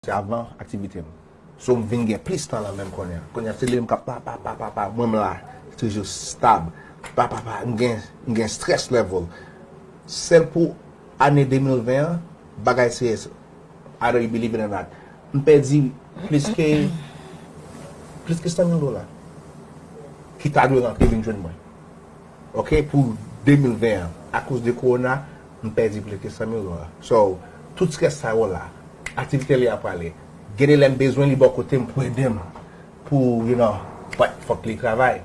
Se avan aktivite m. So m vin gen plis talan menm kounye a. Kounye a se lè m ka pa pa pa pa pa mwen m la toujou stab. Pa pa pa m gen m gen stress level. Sèl pou ane 2020 an bagay se either you believe it or not m pèdi plis ke plis ke 100 mil dola ki ta dwe rantre vin jwenn mwen. Ok pou 2020 an akoz de corona m pèdi plis ke 100 mil dola so tout stress sa yo la aktivite li a prale gen de lè m bezwen li bò kote m pou ede m pou you know but fòk li travay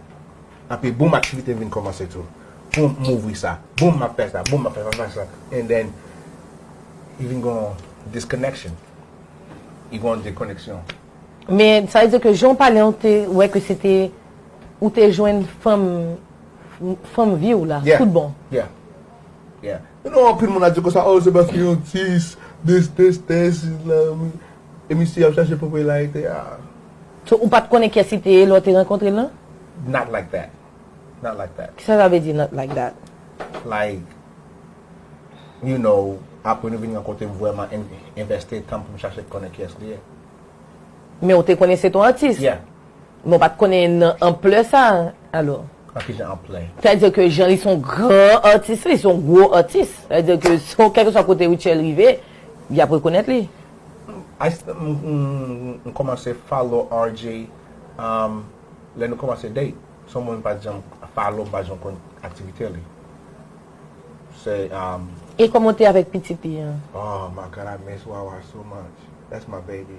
anpi boom aktivite vin kòmanse tou boom m ouvri sa boom map fè sa boom map fè sa and then li vin gon disconnection li gon dekoneksyon. Men sa vle di ke jan w pale an ou te wè ke se te. Ou te jwenn fanm fanm vi w la tout bon. Yeah yeah You know anpil moun ap di konsa oh se paske yon tis this this this is la e misye ap chache popilarite ah. So ou pat konnen kiyès li te ye lè w te rankontre l nan? Not like that not like that. Kisa sa vle di not like that? Like you know apre nou vin rankontre m vrèman envesti tan pou m chache konnen kiyès li ye. Men ou te konnen se t on atis? Yeah Bon pat konnen nan anplè sa alo. Nan ki jan anplè? Sa vle di ke jan li son gran atis li son gwo atis. Sa vle di ke son kèlkeswa kote Rutshelle rive yap rekonèt li. M komanse follow RJ lè nou komanse date. Son moun m pat janm follow m pat janm konn aktivite li. Se. E koman w te avèk pitit li an? Oh my God I miss Wawa so much. That's my baby.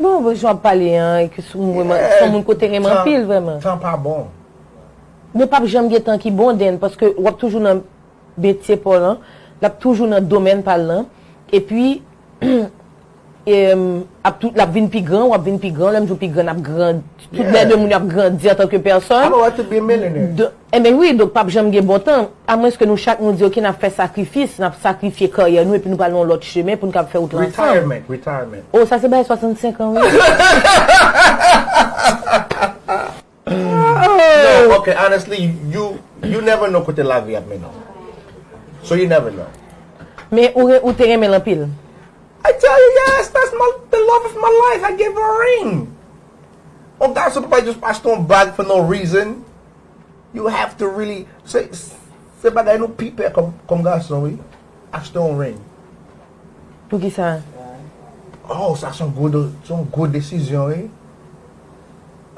Bon bon jan wap pale an e ke sou mwen man son moun kote renmen anpil vreman. Tan pa bon. Men pap janm gen tan ki bon den paske wap toujou nan metye paw lan lap toujou nan domèn pal lan epi ap tou lap vin pi gran wap vin pi gran lèm di w pi gran nap grand tout lè de moun yo ap grandi antanke pèsòn. Apa wè tout byen mele nè. Enben wi, donk pap janm gen bon tan, amwenske nou chak nou di ok nap fè sakrifis, nap sakrifye karyè nou epi nou pral nan yon lòt chemen pou nou kapab fè wout lan ansanm. Retirement, retirement. Oh sa se bagay 65 ans wi. No ok honestly you you never know kote lavi ap mennen w so you never know. Men ou ou te renmen l anpil? I tell you yes that's my the love of my life I gave her a ring. On gason pa just achte yon bag for no reason. You have to really, se bagay nou pi pè kòm gason wi, achte yon ring. Poukisa? Oh sa son gwo desizyon wi.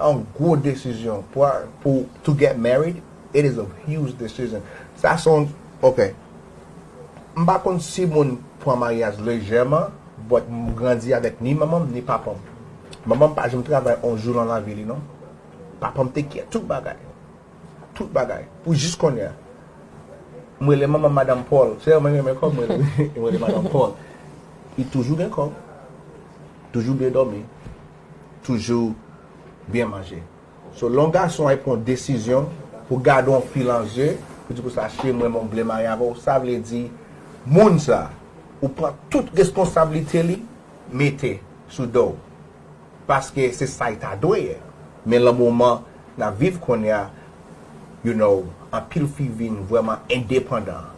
Yon gwo desizyon pou to get married, it is a huge decision. Sa son, ok, m pa konn si moun pran maryaj lejèman, but m grandi avèk ni manman m ni papa m. Manman m pa janm travay yon jou nan lavi li non. Papa m te kyè tout bagay. Tout bagay. Pou jis konnye a. M rele manman m Madanm Pòl. Se yon mwen renmen kòb mwen li. M rele Madanm Pòl. Li toujou gen kòb. Toujou byen dòmi. Toujou byen manje. So lè yon gason al pran yon desizyon pou gade yon fi lan zye, pou di pou sa cheri m renmen w m vle marye avè w, sa vle di moun sa ou pran tout reskonsablite li mete sou do w. Paske se sa y ta dwe ye. Men lan moman n ap viv kounye a, you know, anpil fi vin vrèman endepandan.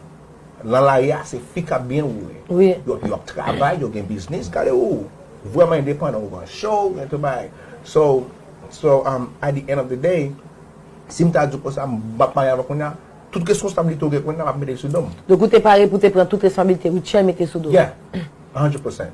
Lan lari a, se fi k ap byen woule. Yo ap travay, yo gen biznis. Gade ou, vrèman endepandan, ou van cho, ou gen tout bagay. So, so, um, at the end of the day, si m ta di w konsa, m ap marye avè w kounye a, tout reskonsablite ou gen kounye a, m ap mete l sou do m. Donk ou te pare pou w te pran tout reskonsablite Rutshelle mete sou do w? Yeah, a hundred percent.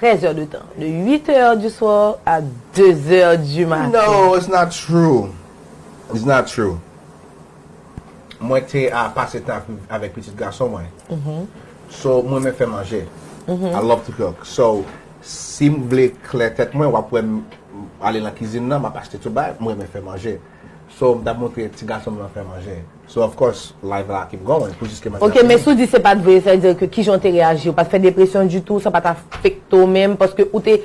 13 heures de tan de 8 heures du soir a 2 heures du matin. No it's not true it's not true mwen te a pase tan avèk pitit gason mwen so mwen renmen fè manje I love to cook so sim vle klè tèt mwen wap wèm ale nan kizin nan map achte tout bagay mwen renmen fè manje. So m tap montre ti gason m lan fè manje. So of course live la keep going pou jiske manje a fini. Ok men si w di se pat vre sa vle dire ke kijan w te reyaji ou pat fè depresyon ditou sa pat afekte w menm paske ou te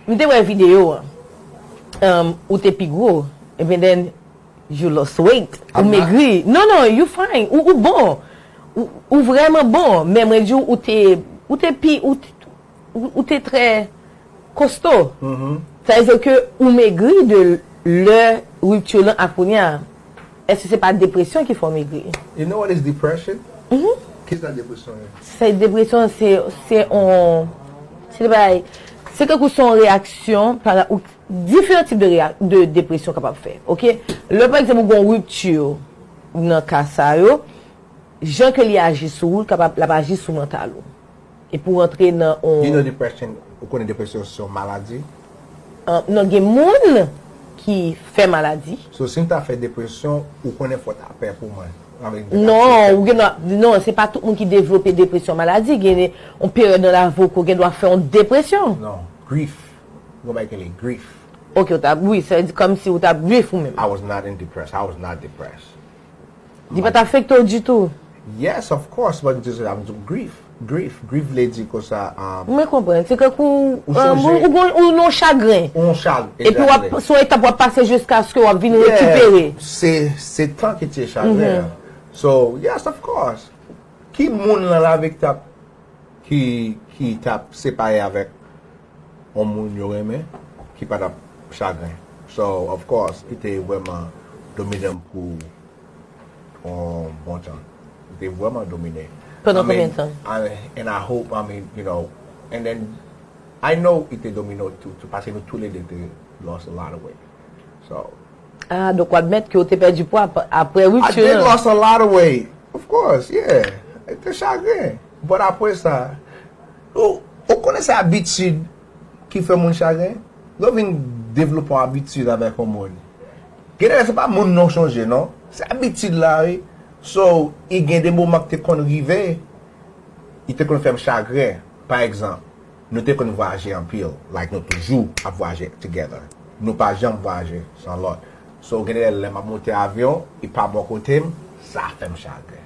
m te wè video an um ou te pi gwo ebyen then you lost weight ou megri non non you fine ou bon ou vrèman bon men mwen di w ou te ou te pi ou te Ou te trè kosto. Sa vle di ke ou megri de lè rupture lan a kounya. Eske se pa depresyon ki fè w megri? You know what is depression? Kisa depresyon ye? Se depresyon se se on se te bay se tankou se yon reyaksyon para ou diferan tip de reya de depresyon kapab fè ok lè pa egzanp ou gon rupture nan ka sa yo jan ke li aji sou ou l kapab l ap aji sou mantal ou. Epi ou antre nan on. You know depression, ou konnen depresyon se yon maladi? Non gen moun ki fè maladi. So si m ta fè depresyon, ou konnen fò ta pè pou mwen. Non, non se pa tout moun ki devlope depresyon maladi, gen on peryòd nan lavi w ke w gen dwa fè on depresyon. Non, grif, gen yon bagay ki rele grif. Ok, wi, sa vle di kòmsi ou ta grif ou menm. I was not in depression, I was not depressed. Li pa t afekte w ditou? Yes of course mwen di sa m di w grif, grif, grif vle di konsa a. Mwen konprann se tankou ou gen yon chagren epi wap se yon etap wap pase jiskaske wap vin rekipere. Yeah se tan ki tye chagren an so yes of course ki moun lan lavi ki tap ki tap separe avèk On moun yo renmen ki pa tap chagren so of course li te vreman dominem pou on bon tan li te vreman domine Pandan konbyen tan? and I hope I mean you know and then I know li te domine w tou tou paske nou tou le 2 te lost a lot of weight so. Ah donk wap admèt ke w te pèdi pwa aprè rupture lan? I did lost a lot of weight of course yeah li te chagren but aprè sa Ou konnen se abitid ki fè moun chagren? Lè w vin devlope yon abitid avèk yon moun, genèlman se pa moun nan w chonje non, se abitid la wi. So, e gen de moman ki te konn rive, li te konn fè m chagren. Pa egzanp, nou te konn vwayaje anpil, like nou toujou ap vwayaje together. Nou pa janm vwayaje san lòt. So, gen de lè lè m ap monte avyon, li pa bò kote m, sa fè m chagren.